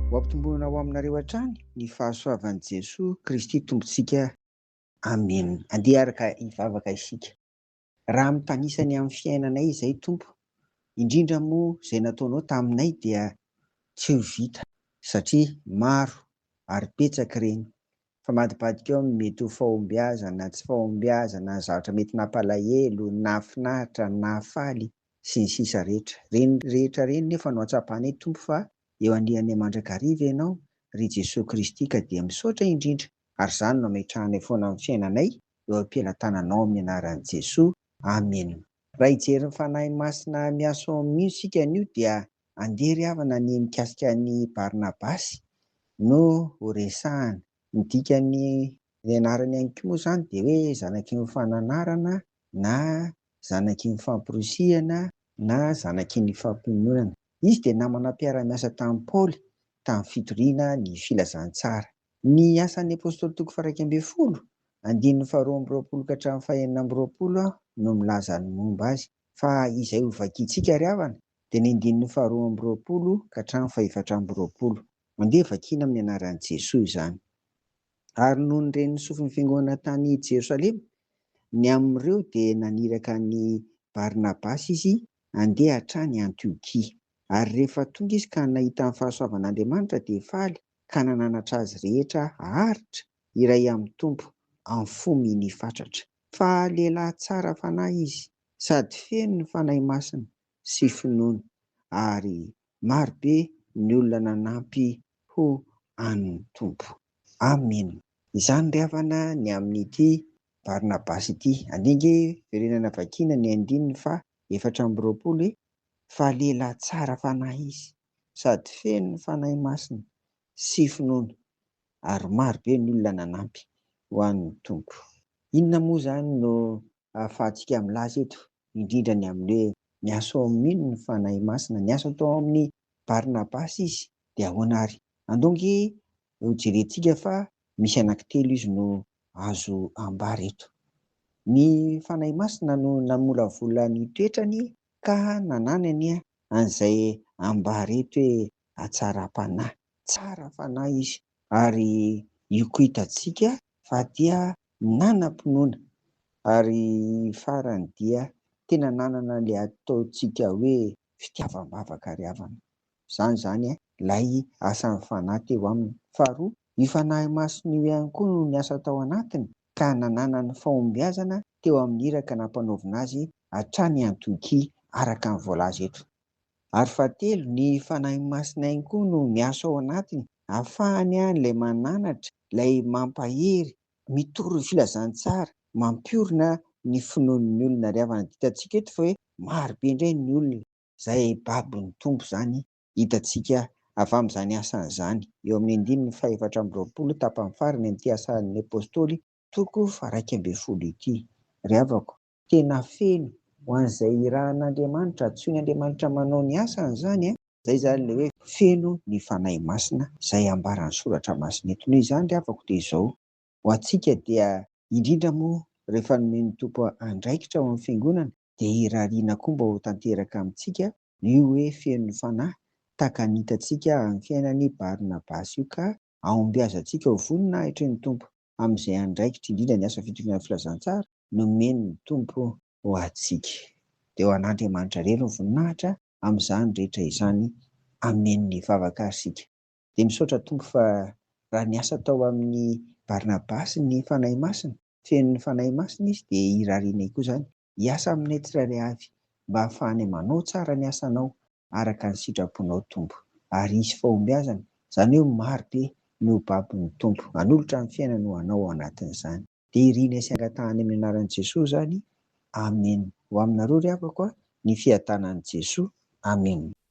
Ho ampitomboina ho aminareo hatrany ny fahasoavan'i Jesoa Kristy Tompontsika. Amena. Andeha araka hivavaka isika. Raha mitanisa ny amin'ny fiainanay izay Tompo, indrindra moa izay nataonao taminay dia tsy ho vita satria maro ary betsaka ireny Famadibadika eo amin'ny mety ho fahombiazana, tsy fahombiazana, zavatra mety nampalahelo, nahafinaritra, nahafaly, sy ny sisa rehetra. Ireny rehetra ireny nefa no hatsapanay Tompo fa eo anilany mandrakariva Ianao, ry Jesoa Kristy ka dia misaotra indrindra ary izany no ametrahanay foana amin'ny fiainanay eo am-pelatananao amin'ny anaran'i Jesoa. Amena. Raha hijery ny Fanahy Masina miasa ao amin'io isika anio dia andeha ry havana ny mikasika an'i Barnabasy no ho resahana. Ny dikan'ny anarany ihany koa moa izany dia hoe zanaky ny fananarana na zanaky ny famporisihana na zanaky ny fampiononana. Izy dia namana mpiara-miasa tamin'i Paoly tamin'ny fitoriana ny filazantsara. Ny Asan'ny Apôstôly toko faha-iraika ambin'ny folo, andininy faharoa amby roapolo ka hatramin'ny fahenina amby roapolo aho no milaza ny momba azy, fa izay ho vakintsika ary havana dia ny andininy faharoa amby roapolo ka hatramin'ny fahefatra amby roapolo. Andeha vakiana amin'ny anaran'i Jesoa izany. Ary noho ny ren'ny sofin'ny Fiangonana tany Jerosalema, ny amin'ireo dia naniraka an'i Barnabasy izy handeha hatrany Antiokia. Ary rehefa tonga izy ka nahita ny fahasoavan'Andriamanitra dia faly, ka nananatra azy rehetra haharitra iray amin'ny Tompo amin'ny fo minia fatratra. Fa lehilahy tsara fanahy izy, sady feno ny Fanahy Masina sy finoana, ary maro be ny olona nanampy ho an'ny Tompo. Amena. Izany ry havana ny amin'ity Barnabasy ity. Andeha ange verenana vakiana ny andininy faha efatra amby roapolo e! Fa lehilahy tsara fanahy izy. sady feno ny Fanahy Masina sy finoana ary maro be ny olona nanampy ho an'ny Tompo. Inona moa izany no ahafahantsika milaza eto indrindra ny amin'ny hoe niasa ao amin'iny ny Fanahy Masina? Niasa tao amin'i Barnabasy Izy, dia ahoana ary? Andao ange hojerentsika fa misy anankitelo izy no azo ambara eto. Ny Fanahy Masina no namolavola ny toetrany Ka nanany anie an'izay ambara eto hoe hatsaram-panahy. Tsara fanahy izy ary io koa hitantsika fa dia nanam-pinoana ary farany dia tena nanana ilay ataontsika hoe fitiavam-bavaka ry havana. Izany izany ilay asan'ny fanahy teo aminy. Faharoa, io fanahy masina io ihany koa no niasa tao anatiny ka nanana ny fahombiazana teo amin'ny iraka nampanaovina azy hatrany Antiokia araka ny voalaza eto. Ary fahatelo, ny Fanahy Masina ihany koa no miasa ao anatiny hahafahany any ilay mananatra, ilay mampahery, mitory ny filazantsara, mampiorina ny finoan'ny olona. Ary havana, dia hitantsika eto fa hoe marobe indray ny olona. Izay babon'ny Tompo izany hitantsika avy amin'izany asany izany eo amin'ny andininy faha-efatra amby roapolo tapany farany amin'ity Asan'ny Apostoly Toko faha iraika ambin'ny folo ity. Ry havako, tena feno ho an'izay irahan'Andriamanitra, antsoin' Andriamanitra manao ny asany izany an! Izay izany ilay hoe feno ny Fanahy Masina, izay ambaran'ny Soratra Masina eto. Noho izany ry havako dia izao, ho antsika dia indrindra moa rehefa nomen'ny Tompo andraikitra ao amin'ny Fiangonana dia irariana koa mba ho tanteraka amintsika io hoe feno ny Fanahy, tahaka ny hitantsika amin'ny fiainan'i Barnabasy io ka Ahombiazantsika ho voninahitry ny Tompo amin'izay andraikitra indrindra ny asa fitoriana ny filazantsara nomen'ny Tompo ho antsika. Dia ho an'Andriamanitra irery ny voninahitra amin'izany rehetra izany. Amen ny vavaka ary isika dia misaotra Tompo fa raha niasa tao amin'i Barnabasy ny Fanahy Masina, feno ny Fanahy Masina izy dia irarianay koa izany Hiasa aminay tsirairay avy mba hahafahanay manao tsara ny asanao araka ny sitraponao Tompo. Ary hisy fahombiazana, izany hoe maro be no ho babon'ny Tompo. Hanolotra ny fiainany ho anao ao anatin'izany. Dia irinay sy angatahanay amin'ny anaran'i Jesoa izany. Amen. Ho aminareo ry havako a, ny fiadanan'i Jesoa. Amen.